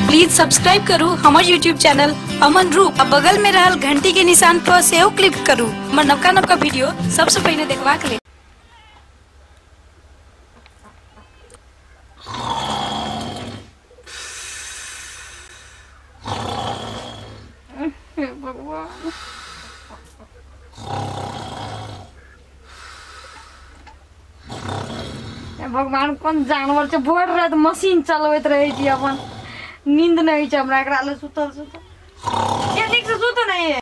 please subscribe करू हमर YouTube channel Aman Roop आ बगल में रहल घंटी के निशान पर सेहो क्लिक करू हमर नवका नवका वीडियो सबसे पहले देखबाक लेल भगवान कोन जानवर छै भोर राति मशीन चलबैत रहै छी अपन नींद नहि होइ छै हमरा एकरा लए सुतल सुतल ये नीक से सुत नहि ये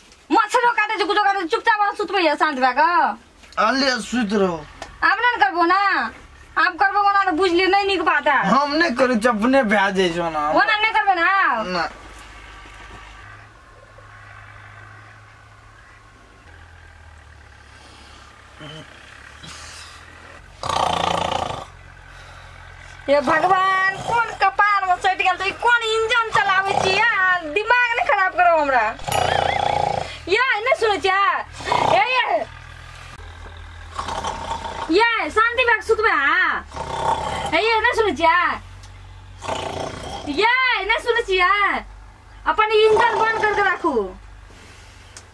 मच्छरो काटे छै कुछो काटे छै, चुपचाप अहाँ सुतबै या शांत भए कऽ अल्ले सुत रहो आब नहि ने करबो ना आब करबो ओना तऽ बुझ लिअ नहि नीक बात है हम नहि करै छी अपने भए जाइ छौ ना ओना नहि करबै ना आब ना हे भगवान कोन कपार में चढ़ि गेल तऽ ई कोन इंजन चलाबै छी यार दिमाग नहि खराब करो हमरा ये नहि सुनै छियै हे ये ये शांति बैग सुतबे अहाँ हे ये नहि सुनै छियै ये नहि सुनै छियै अपन इंजन बंद करके राखू